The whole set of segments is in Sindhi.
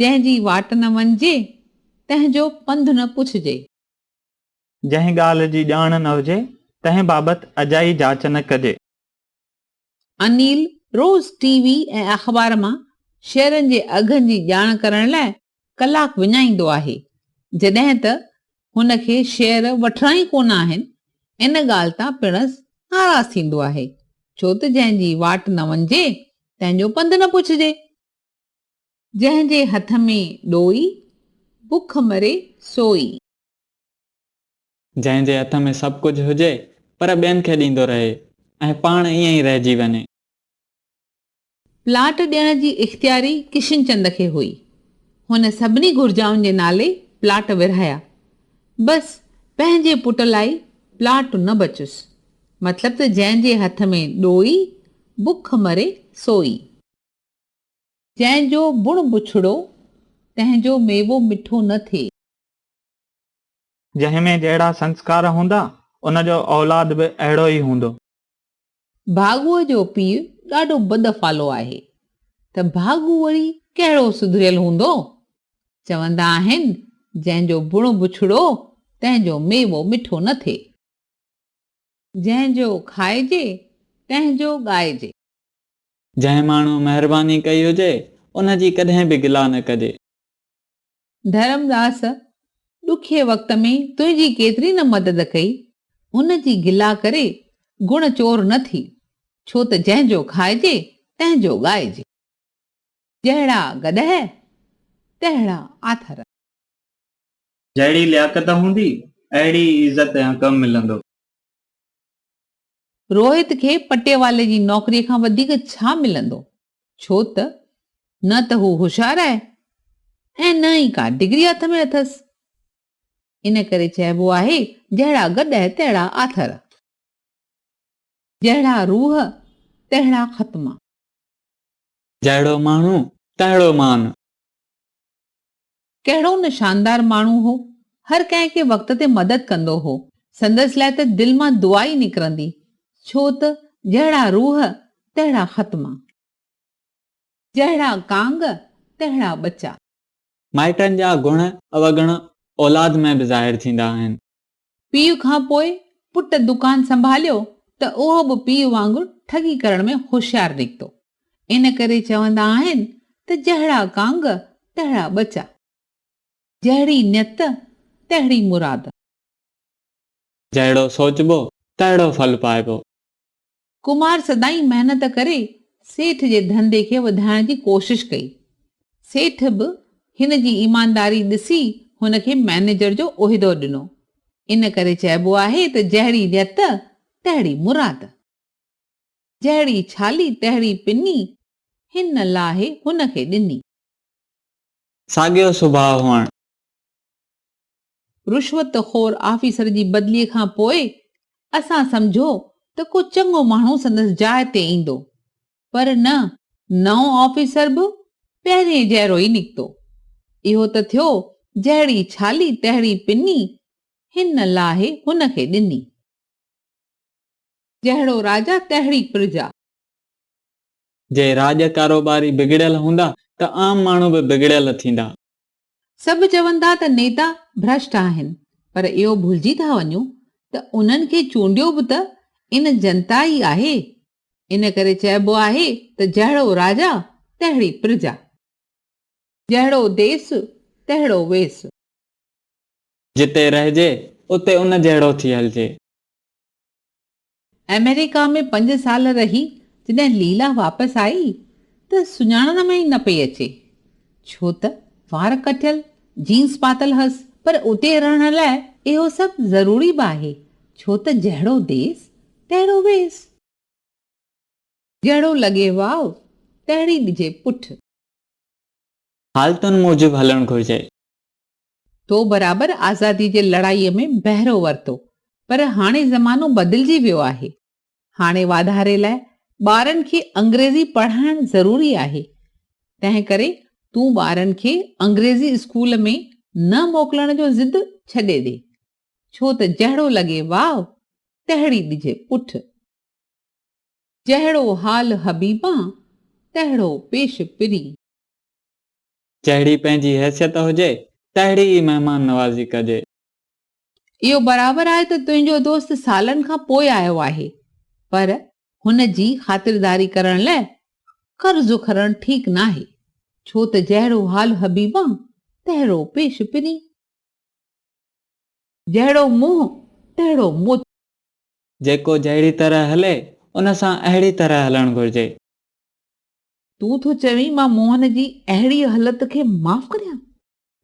جنهن جي واٽ نه وڃجي، تنهن جو پنڌ نه پڇجي. جنهن ڳالهه جي ڄاڻ نه هجي، تنهن بابت اجائي جاچ نه ڪجي. انيل روز ٽي وي ۽ اخبار مان شيئرن جي اگهن جي ڄاڻ ڪرڻ لاء ڪلاڪ وڃائيندو آهي، جڏهن ته هن کي شعر وٺڻا ئي ڪونه آهن، ان ڳالهه تان پڻس ناراض ٿيندو آهي، ڇو ته جنهن جي واٽ نه وڃجي، تنهن جو پنڌ نه پڇجي. جنهن جي هٿ ۾ ڏوئي، بک مري سوئي. جنهن جي هٿ ۾ سڀ ڪجهه هجي، پر ٻين کي ڏيندو رهي ۽ پاڻ ائين ئي رهجي وڃي. پلاٽ ڏيڻ جي اختياري ڪشن چند کي هئي. هن سڀني گهرجائن جي نالي پلاٽ ورهايا. بس پنهنجي پٽ لاء پلاٽ نه بچيس. مطلب ته جنهن جي هٿ ۾ ڏوئي، بک مري سوئي. جنهن جو بڻ بڇڙو، تنهن جو ميوو مٺو نه ٿئي. جنهن ۾ جهڙا سنسڪار هوندا، ان جو اولاد به اهڙو ئي هوندو. ڀاڳوء جو پيء ڏاڍو بدفعلو آهي ته ڀاڳو وري ڪهڙو سڌريل هوندو؟ چوندا آهن جنهن جو بڻ بڇڙو تنهن جو ميوو مٺو نه ٿئي. جنهن جو کائجي تنهن جو ڳائجي. جنهن ماڻهو مهرباني ڪئي هجي ان جي ڪڏهن به گلا نه ڪجي. ڌرمداس، ڏکئي وقت ۾ تنهنجي ڪيتري نه مدد ڪئي، ان جي گلا ڪري گڻ چور نه ٿي، ڇو ته جنهن جو کائجي، تنهن جو ڳائجي. جهڙا گڏهه، تهڙا آٿر. جهڙي لياقت هوندي، اهڙي ئي عزت ۽ عقب ملندو. روهت کي پٽيوالي جي نوڪريء کان وڌيڪ ڇا ملندو؟ ڇو ته نه ته هو هوشيار آهي ۽ نه ئي ڪا ڊگري هٿ ۾ اٿس. ان ڪري چئبو آهي، جهڙا گڏهه تهڙا آٿر. جهڙا روح تهڙا ختما. جهڙو ماڻهو تهڙو مان. ڪهڙو نه شاندار ماڻهو هو. هر ڪنهن کي وقت تي مدد ڪندو هو. سندس لاء ته دل مان دعا ئي نڪرندي. ڇو ته جهڙا روح، تهڙا ختما. جهڙا ڪانگ، تهڙا ٻچا. مائٽن جا گڻ اوگڻ اولاد ۾ به ظاهر ٿيندا آهن. پيء کان پوء پٽ دڪان سنڀاليو ته اهو به پيء وانگر ٺڳي ڪرڻ ۾ هوشيار نڪتو. ان ڪري چوندا آهن ته جهڙا ڪانگ، تهڙا ٻچا. جهڙي نيت، تهڙي مراد. جهڙو سوچبو، تهڙو ڦل پائبو. ڪمار سدائين محنت ڪري سيٺ جي ڌنڌي کي وڌائڻ جي ڪوشش ڪئي. سيٺ به هن جي ايمانداري ڏسي هن کي مئنيجر جو عهدو ڏنو. ان ڪري چئبو آهي ته جهڙي نيت تهڙي مراد. جهڙي ڇالي تهڙي پني، هن لاهي هن کي ڏني. ساڳيو سڀاء هئڻ. رشوت خور آفيسر جي بدلي کان پوء اسان سمجهيو ته ڪو چڱو ماڻهو سندس جاء تي ايندو پر نه نئون آفيسر به پهرين جهڙو ئي نڪتو. اهو ته ٿيو جهڙي ڇالي تهڙي پني هن لاهي هن کي ڏني. جهڙو راجا تهڙي پرجا. جي راڄ ڪاروباري بگڙيل هوندا ته عام ماڻهو به بگڙيل ٿيندا. سڀ چوندا ته نيتا ڀرشٽ آهن پر اهو ڀلجي ٿا وڃو ته انهن کي چونڊيو به ته ان جنتا ئي آهي ان ڪري چئبو آهي ته جهڙو راجا تهڙي پرجا جهڙو ديس تهڙو ويس. جتي رهجي اتي ان جهڙو ٿي هلجي. آمريڪا ۾ پنج سال رهي جڏهن ليلا واپس آئي ته سڃاڻڻ ۾ ئي نه پئي اچي ڇو ته وار ڪٽيل، جينز پاتل هئس پر اتي رهڻ لاء اهو سڀ ضروري به آهي ڇو ته جهڙو ديس تهڙو ويس. جهڙو لڳي واء تهڙي ڏجي پٺ. حالتن موجب هلڻ گهرجي. تو برابر آزادي جي لڙائيء ۾ بهرو ورتو، پر هاڻي زمانو بدلجي ويو آهي. هاڻي واڌاري لاء ٻارن کي انگريزي پڙهائڻ ضروري آهي. تنهن ڪري تون ٻارن کي انگريزي اسڪول ۾ نه موڪلڻ جو ضد ڇڏي ڏي. ڇو ته جهڙو لڳي واو، تهڙي ڏجي پٺ. جهڙو حال حبيبان، تهڙو پيش پرين. جهڙي پنهنجي حيثيت هجي، تهڙي ئي مهمان نوازي ڪجي. اهو برابر آهي ته تنهنجو دوست سالن کان پوء آيو آهي، پر هن جي خاطرداري ڪرڻ لاء قرض کرڻ ٺيڪ ناهي، ڇو ته جهڙو حال حبيبان، تهڙو پيش پرين. جهڙو منهن، تهڙو مت. جيڪو جهڙي طرح هلي، ان سان اهڙي طرح هلڻ گهرجي. تون ٿو چوين مان موهن جي اهڙيء هلت کي معاف ڪريان؟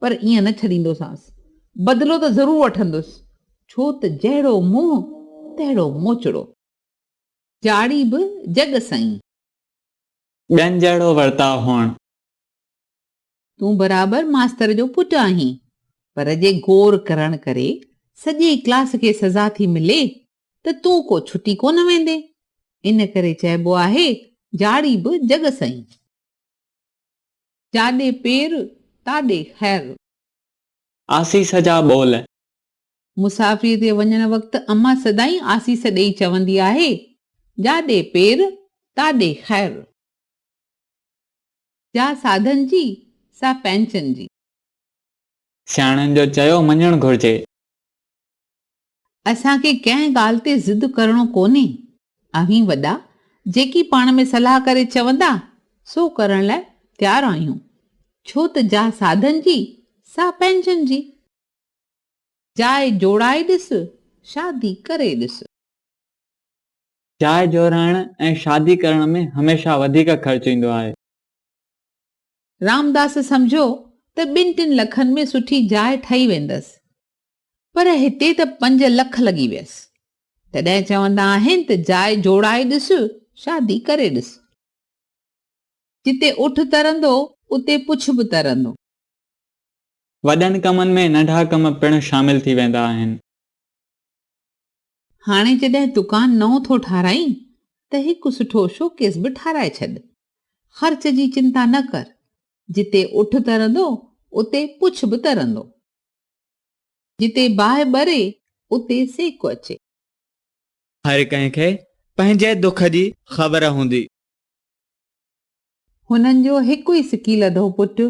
پر ائين نه ڇڏيندوسانس. بدلو ته ضرور وٺندس. ڇو ته جهڙو منهن تهڙو موچڙو. جاڙي به جڳ سئين. ٻين جهڙو ورتاء هئڻ. تون برابر ماستر جو پٽ آهين. پر جي گور ڪرڻ ڪري سڄي ڪلاس کي سزا ٿي ملي ته تون ڪو ڇٽي ڪونه ويندين، ان ڪري چئبو آهي، جاڙي به جڳ سئين. جاڏي پير، تاڏي خير. آسيس جا ٻول. مسافريء تي وڃڻ وقت امان سدائين آسيس ڏيئي چوندي آهي، جاڏي پير، تاڏي خير. جا ساڌن جي، سا پنهنچن جي. سياڻن جو چيو مڃڻ گهرجي. اسان کي ڪنهن ڳالهه تي ضد ڪرڻو ڪونهي. اوهين وڏا جيڪي پاڻ ۾ صلاح ڪري چوندا، سو ڪرڻ لاء تيار آهيون. ڇو ته جاء ساڌن جي، سا پنهنجن جي. جاء جوڙائي ڏس، شادي ڪري ڏس. جاء جوڙائڻ ۽ شادي ڪرڻ ۾ هميشه وڌيڪ خرچ ايندو آهي. رامداس سمجهيو ته ٻن ٽن لکن ۾ سٺي جاء ٺهي ويندس. پر هتي ته پنج لک لڳي ويس. تڏهن چوندا آهن ته جاء جوڙائي ڏس، شادي ڪري ڏس. جتي اٺ ترندو، اتي پڇ به ترندو. وڏن ڪمن ۾ ننڍا ڪم پڻ شامل ٿي ويندا آهن. هاڻي جڏهن دڪان نئون ٿو ٺاراهين ته هڪ سٺو شوڪيس به ٺاراهي ڇڏ. خرچ جي چنتا نه ڪر. جتي اٺ ترندو، اتي پڇ به ترندو. جتي باهه ٻري، اتي سيڪ اچي. هر ڪنهن کي پنهنجي دک جي خبر هوندي. هنن جو هڪ ئي سڪي لڌو پٽ،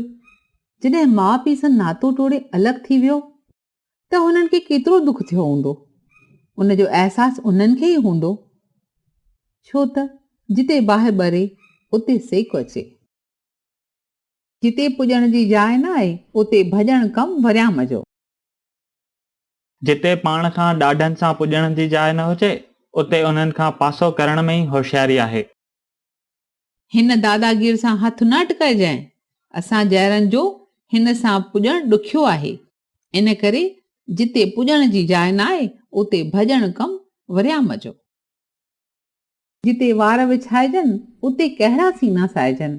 جڏهن ماء پيء سان ناتو ٽوڙي الڳ ٿي ويو، ته هنن کي ڪيترو دک ٿيو هوندو. ان جو احساس انهن کي ئي هوندو، ڇو ته جتي باهه ٻري، اتي سيڪ اچي. جتي پڄڻ جي جاء نه آهي، اتي ڀڄڻ ڪم وريام جو. جتي پاڻ کان ڏاڍن سان پڄڻ جي جاء نه هجي، اتي انهن کان پاسو ڪرڻ ۾ ئي هوشياري آهي. هن داداگير سان هٿ نه اٽڪائجانء. اسان جهڙن جو هن سان پڄڻ ڏکيو آهي. ان ڪري جتي پڄڻ جي جاء نه آهي، اتي ڀڄڻ ڪم وريام جو. جتي وار وڇائجن، اتي ڪهڙا سينا سائجن.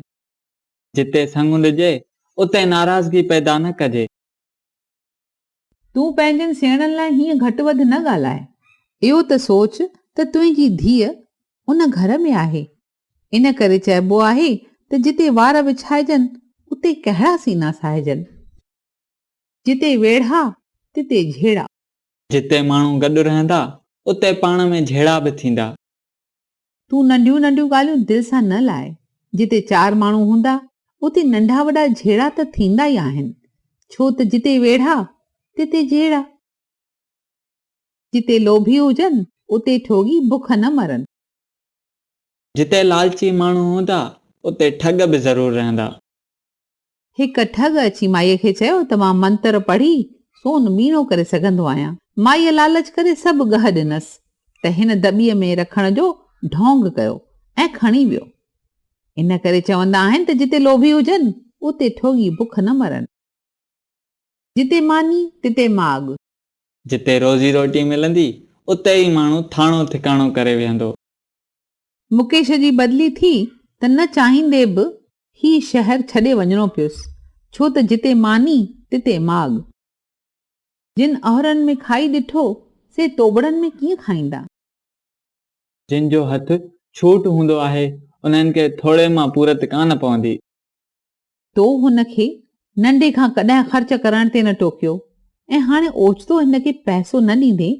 جتي سڱ ڏجي، اتي ناراضگي پيدا نه ڪجي. تون پنهنجن سيڻن لاء هيئن گهٽ وڌ نه ڳالهاء. اهو ته سوچ ته تنهنجي ڌيء ان گهر ۾ آهي. ان ڪري چئبو آهي ته جتي وار وڇائجن، اتي ڪهڙا سينا ساهجن. جتي ويڙها، تتي جهيڙا. جتي ماڻهو گڏ رهندا، اتي پاڻ ۾ جهيڙا به ٿيندا. تون ننڍيون ننڍيون ڳالهيون دل سان نه لاء. جتي چار ماڻهو هوندا، اتي ننڍا وڏا جهيڙا ته ٿيندا ئي آهن. ڇو ته جتي ويڙها، تتي جهيڙا. جتي لوڀي هجن، اتي ٺوڳي بک نه مرن. جتي لالچي ماڻهو هوندا، اتي ٺڳ به ضرور رهندا. هڪ ٺڳ اچي مائيء کي چيو ته مان منتر پڙهي سون ميڻو ڪري سگهندو آهيان. مائيء لالچ ڪري سڀ ڳهه ڏنس ته هن دٻي ۾ رکڻ جو ڍونگ ڪيو ۽ کڻي ويو. ان ڪري چوندا آهن ته جتي لوڀي هجن، اتي ٺوڳي بک نه مرن. جتي ماني، تتي ماڳ. جتي روزي روٽي ملندي، اتي ئي ماڻهو ٿاڻو ٿڪاڻو ڪري ويهندو. مڪيش جي بدلي ٿي ته نه چاهيندي به هي شهر ڇڏي وڃڻو پيس، ڇو ته جتي ماني تتي ماڳ. جن اهرن ۾ کائي ڏٺو، سي توبڙن ۾ ڪيئن کائيندا؟ جن جو هٿ ڇوٽ هوندو آهي، انهن کي ٿوري مان پورت ڪانه پوندي. تو هن کي ننڍي کان ڪڏهن خرچ ڪرڻ تي نه ٽوڪيو ۽ هاڻي اوچتو هن کي پئسو نه ڏيندين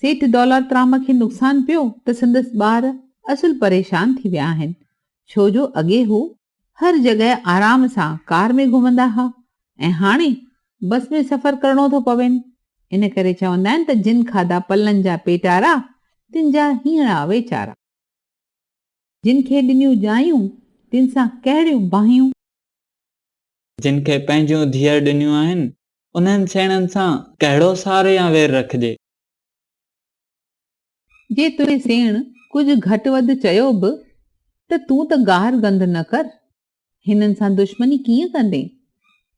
سيٺ دولار ترام کي نقصان پيو ته سندس ٻار اصل پريشان ٿي ويا آهن ڇو جو اڳي هو هر جڳهه آرام سان ڪار ۾ گهمندا ها ۽ هاڻي بس ۾ سفر ڪرڻو ٿو پوين ان ڪري چوندا آهن ته جن کاڌا پلن جا پيٽارا تن جا هينئڙا ويچارا جن کي ڏنيون ڄايون تن سان ڪهڙيون باهيون. جن کي پنهنجون ڌيئر ڏنيون آهن انهن سيڻن سان ڪهڙو سار يا وير رکجي؟ جي تنهنجي سيڻ ڪجهه گهٽ وڌ چيو به ته تون ته گار گند نه ڪر، هنن سان دشمني ڪيئن ڪندين؟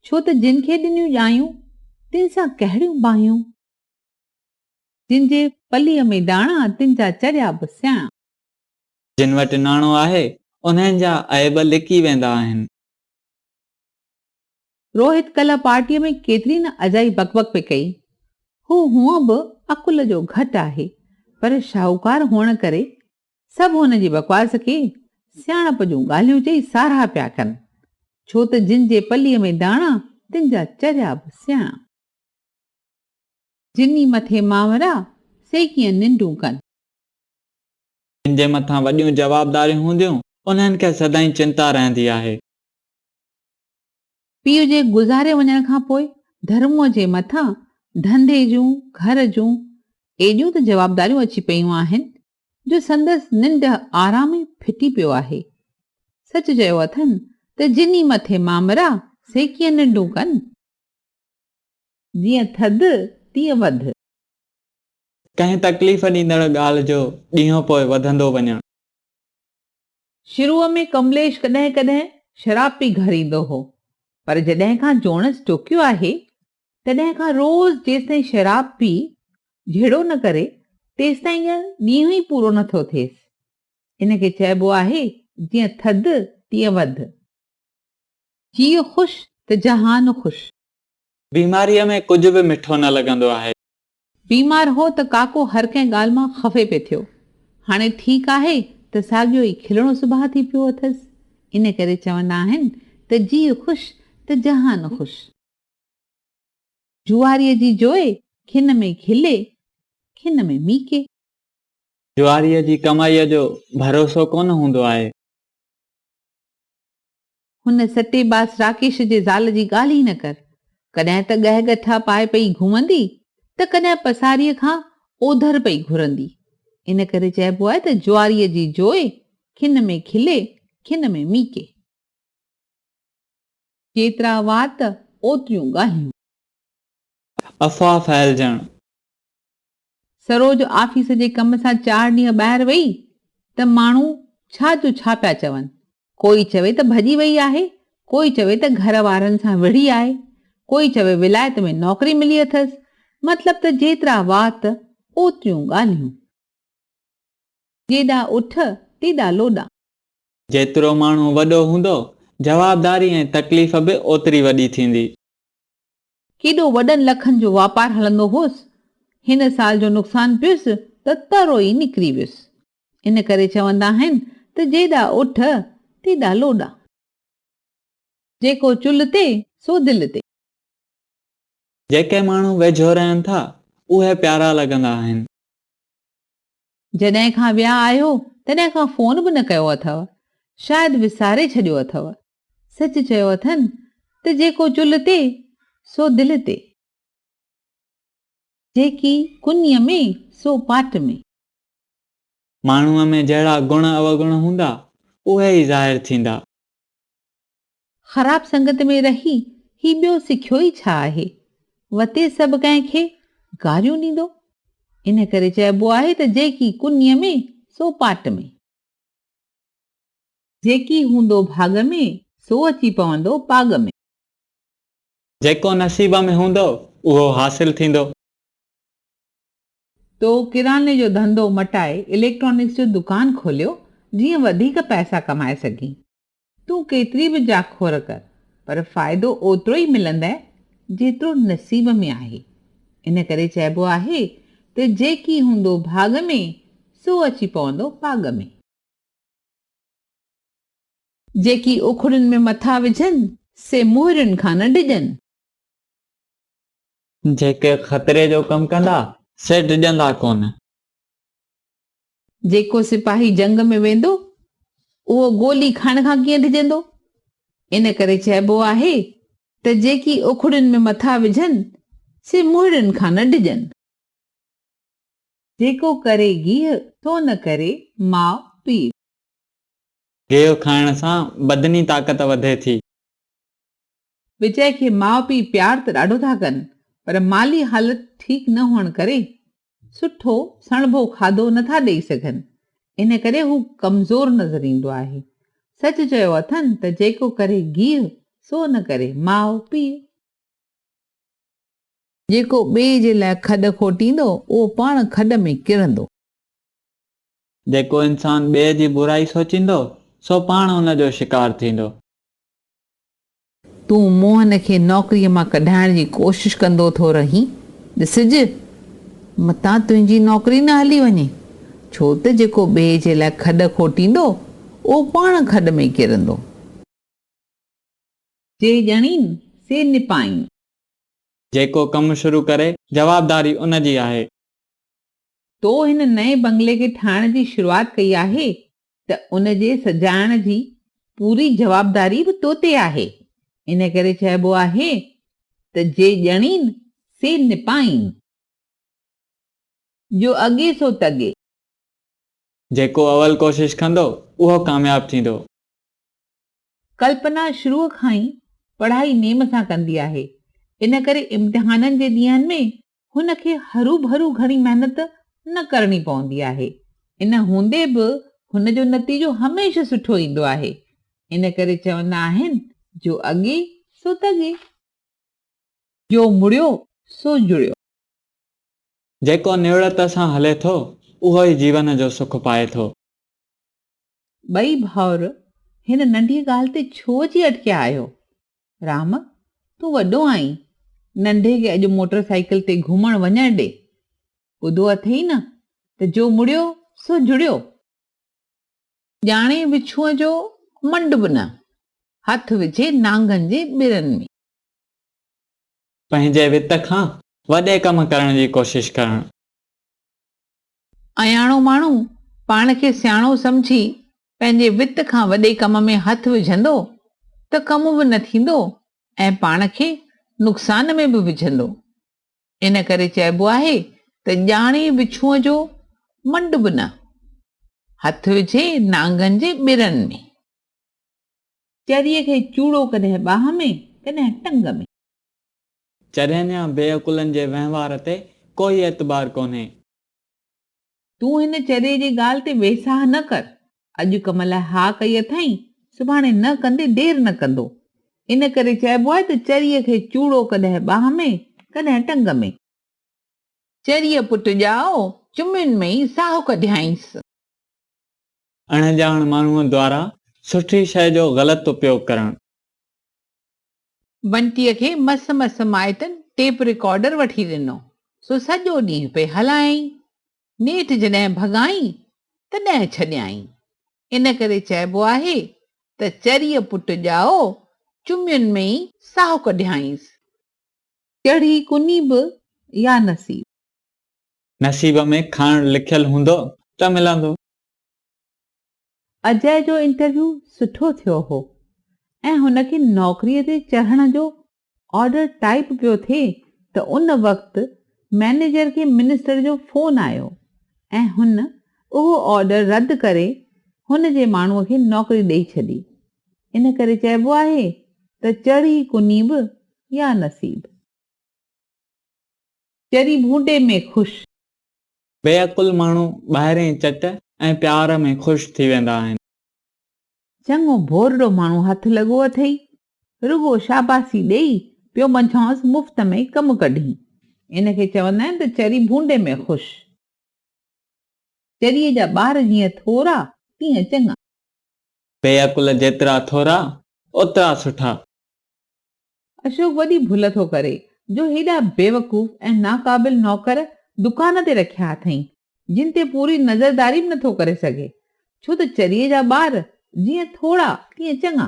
ڇو ته جن کي ڏنيون ڄايون، تن سان ڪهڙيون باهيون؟ جن جي پليء ۾ ڏاڻا، تن جا چريا به سياڻا. جن وٽ ناڻو آهي، انهن جا عيب لڪي ويندا آهن. روهت ڪلهه پارٽيء ۾ ڪيتري نه اجائي بڪ بڪ پئي ڪئي. هو هونء به عقل جو گهٽ آهي، پر شاهوڪار هئڻ ڪري، سڀ هن جي بڪواس کي سياڻپ جون ڳالهيون چئي ساراهه پيا ڪن. ڇو ته جن جي پليء ۾ داڻا، تن جا چريا به سياڻا. جن ئي مٿي مانورا، سي ڪيئن ننڊون ڪن. جن جي مٿان وڏيون جوابداريون هونديون، انهن کي سدائين چنتا رهندي آهي. پيء جي گذاري وڃڻ کان پوء ڌرموء جي مٿان ڌنڌي جون، گهر جون ايڏيون ته جوابداريون اچي پيون آهن جو سندس ننڊ آرام ئي ڦٽي پيو آهي. سچ چيو اٿن ته جنھن مٿي مامرا سي ڪيئن ننڊون ڪن. جيئن ٿڌ تيئن وڌ. ڪنھن تڪليف ڏيندڙ ڳالھه جو ڏينھون پوء وڌندو وڃڻ. شروع ۾ ڪمليش ڪڏهن ڪڏهن شراب پي گهر ايندو هو، پر جڏهن کان جوڻس ٽوڪيو آهي، تڏهن کان روز جيستائين شراب پي جهيڙو نه ڪري، تيستائين ڄڻ ڏينهن ئي پورو نه ٿو ٿئيس. ان کي چئبو آهي، جيئن ٿڌ، تيئن وڌ. جيء خوش ته جهان خوش. بيماريء ۾ ڪجهه به مٺو نه لڳندو آهي. بيمار هو ته ڪاڪو هر ڪنهن ڳالهه مان خفي پئي ٿيو. هاڻي ٺيڪ آهي ته ساڳيو ئي کلڻو سڀاء ٿي پيو اٿس. ان ڪري چوندا آهن ته جيء خوش ته جهان خوش. جواريء جي جوئي، کن ۾ کلي، کن ۾ ميڪي. جواريء جي ڪمائيء جو ڀروسو ڪونه هوندو آهي. هن سٽي باس راڪيش جي زال جي ڳالهه ئي نه ڪر. ڪڏهن ته ڳهه ڳٺا پائي پئي گهمندي ته ڪڏهن پساريء کان اوڌر پئي گهرندي. ان ڪري چئبو آهي ته جواريء جي جوئي، کن ۾ کلي، کن ۾ ميڪي. جيترا وات، اوتريون ڳالهيون. افواهه ڦهلجڻ. سروج آفيس جي ڪم سان چار ڏينهن ٻاهر وئي ته ماڻهو ڇا جو ڇا پيا چون. ڪوئي چوي ته ڀڄي وئي آهي، ڪوئي چوي ته گهر وارن سان وڙهي آهي، ڪوئي چوي ولايت ۾ نوڪري ملي اٿس. مطلب ته جيترا وات اوتريون ڳالهيون. جيڏا اٺ، تيڏا لوڏا. جيترو ماڻهو وڏو هوندو، جوابداري ۽ تڪليف به اوتري وڏي ٿيندي. ڪيڏو وڏن لکن جو واپار هلندو هوس، هن سال جو نقصان پيس ته ترو ئي نڪري ويس. ان ڪري چوندا آهن ته جيڏا اٺ، تيڏا لوڏا. جيڪو چلهه تي، سو دل تي. جيڪي ماڻهو ويجهو رهن ٿا، اهي پيارا لڳندا آهن. جڏهن کان ويا آهيو، تڏهن کان فون به نه ڪيو اٿو. شايد وساري ڇڏيو اٿو. سچ چيو اٿن ته جيڪو چلهه تي سو دل تي. جيڪي ڪنيء ۾ سو پاٽ ۾. ماڻهوء ۾ جهڙا گڻ اوگڻ هوندا، اهي ئي ظاهر ٿيندا. خراب سنگت ۾ رهي هي ٻيو سکيو ئي ڇا آهي؟ وتي سڀ ڪنهن کي گاريون ڏيندو. ان ڪري چئبو آهي ته جيڪي ڪنيء ۾ سو پاٽ ۾. جيڪي هوندو ڀاڳ ۾، سو اچي پوندو پاڳ ۾. جيڪو نصيب ۾ هوندو، اهو حاصل ٿيندو. تو ڪراني جو ڌنڌو مٽائي اليڪٽرانڪس جو دڪان کوليو، جيئن وڌيڪ پئسا ڪمائي سگهين. تون ڪيتري به جاکور ڪر، پر فائدو اوترو ئي ملندئ، جيترو نصيب ۾ آهي. ان ڪري چئبو آهي ته جيڪي هوندو ڀاڳ ۾، سو اچي پوندو پاڳ ۾. جيڪي اکڙين ۾ مٿا وجهن، سي مهرين کان نه ڊڄن. جيڪي خطري جو ڪم ڪندا، سي ڊڄندا ڪونه. جيڪو سپاهي جنگ ۾ ويندو، اهو گولي کائڻ کان ڪيئن ڊڄندو؟ ان ڪري چئبو آهي ته جيڪي اکڙين ۾ مٿا وجهن، سي مهرين کان نه ڊڄن. جيڪو ڪري گيهه، ٿو نه ڪري ماء پيء. گيهه کائڻ سان بدني طاقت وڌي ٿي. وجئه کي ماء پيء پيار ته ڏاڍو ٿا ڪن پر مالي حالت ٺيڪ نه هئڻ ڪري سٺو سڻڀو کاڌو نه ٿا ڏئي سگهن ان ڪري هو ڪمزور نظر ايندو آهي. سچ چيو اٿن ته جيڪو ڪري گيهه، سو نه ڪري ماء پيء. جيڪو ٻئي جي لاء کڏ کوٽيندو، اهو پاڻ کڏ ۾ ڪرندو. جيڪو انسان ٻئي جي برائي سوچيندو، سو پاڻ ان جو شڪار ٿيندو. تون موهن کي نوڪريء مان ڪڍائڻ جي ڪوشش ڪندو ٿو رهين. ڏسج، متان تنهنجي نوڪري نه هلي وڃي. ڇو ته جيڪو ٻئي جي لاء کڏ کوٽيندو، اهو پاڻ کڏ ۾ ڪرندو. جي ڄڻين، سي نپائين. جيڪو ڪم شروع ڪري، جوابداري ان جي آهي. تو هن نئين بنگلي کي ٺاهڻ جي شروعات ڪئي آهي ته ان جي سجائڻ جي پوري جوابداري به تو تي آهي. ان ڪري چئبو آهي ته جي ڄڻين، سي نپائين. جو اڳي سو تڳي. جيڪو اول ڪوشش ڪندو، اهو ڪامياب ٿيندو. ڪلپنا شروع کان ئي پڙهائي نيم سان ڪندي آهي، ان ڪري امتحانن جي ڏينهن ۾ هن کي هروڀرو گهڻي محنت نه ڪرڻي پوندي آهي. ان هوندي به هن جو نتيجو هميشه سٺو ايندو آهي. ان ڪري چوندا آهن، جو اڳي سو تڳي. جو مڙيو سو جڙيو. جيڪو نوڙت سان هلي ٿو، اهو ئي جيون جو سک پائي ٿو. ٻئي ڀائر، هن ننڍيء ڳالهه تي ڇو اچي اٽڪيا آهيو؟ رام، تون وڏو آهين، ننڍي کي اڄ موٽر سائيڪل تي گهمڻ وڃڻ ڏي. ٻڌو اٿئي نه ته جو مڙيو سو جڙيو. ڄاڻي وڇوء جو منڊ به نه، هٿ وجهي نانگن جي ٻرن ۾. پنهنجي وت کان وڏي ڪم ڪرڻ جي ڪوشش ڪرڻ. اياڻو ماڻهو پاڻ کي سياڻو سمجهي پنهنجي وت کان وڏي ڪم ۾ هٿ وجهندو ته ڪم به نه ٿيندو ۽ پاڻ کي نقصان ۾ به وجهندو. ان ڪري چئبو آهي ته ڄاڻي وڇونء جو منڊ به نه هٿ وجهي نانگن جي ٻرن ۾. چريء کي چوڙو ڪڏهن ٻانهن ۾، ڪڏهن ٽنگ ۾. چرينيا بي عقلن جي وهنوار تي ڪوئي اعتبار ڪونهي. تون هن چري جي ڳالهه تي ويساهه نه ڪر. اڄ ڪم لاء ها ڪئي اٿائين، سڀاڻي نه ڪندي دير نه ڪندو. ان ڪري چئبو آهي ته چريء کي چوڙو ڪڏهن ٻانهن ۾، ڪڏهن ٽنگ ۾. چريء پٽ ڄائو، چمين ۾ ئي ساهه ڪڍيائينس. اڻڄاڻ ماڻهوء دوارا سٺي شيء جو غلط اپيوگ ڪرڻ. بنٽيء کي مس مس مائٽن ٽيپ رڪارڊر وٺي ڏنو، سو سڄو ڏينهن پئي هلايائين. نيٺ جڏهن ڀڳائين، تڏهن ڇڏيائين. ان ڪري چئبو آهي ته چريء پٽ ڄائو، چمين ۾ ئي ساهو ڪڍيائينس. چڙهي ڪني به يا نصيب. نصيب ۾ کڻ لکيل هوندو ته ملندو. اجئه جو انٽرويو سٺو ٿيو هو ۽ هن کي نوڪريء تي چڙهڻ جو آرڊر ٽائيپ پيو ٿئي ته ان وقت مئنيجر کي منسٽر جو فون آيو ۽ هن اهو آرڊر رد ڪري هن جي ماڻهوء کي نوڪري ڏئي ڇڏي. ان ڪري چئبو آهي ته چڙهي ڪني به يا نصيب. چري ڀونڊي ۾ خوش. بي عقل ماڻهو ٻاهرين چٽ ۽ پيار ۾ خوش ٿي ويندا آهن. چڱو ڀورڙو ماڻهو هٿ لڳو اٿئي، رڳو شاباسي ڏيئي پيو منجهانئس مفت ۾ ڪم ڪڍين. ان کي چوندا آهن ته چري ڀونڊي ۾ خوش. چريء جا ٻار جيئن ٿورا، تيئن چڱا. بي عقل جيترا ٿورا، اوترا سٺا. اشوڪ وڏي ڀل ٿو ڪري جو هيڏا بيوقوف ۽ ناقابل نوڪر دڪان تي رکيا اٿئي، جن تي پوري نظرداري به نٿو ڪري سگهي، ڇو ته چريي جا ٻار جيئن ٿورا تيئن چڱا.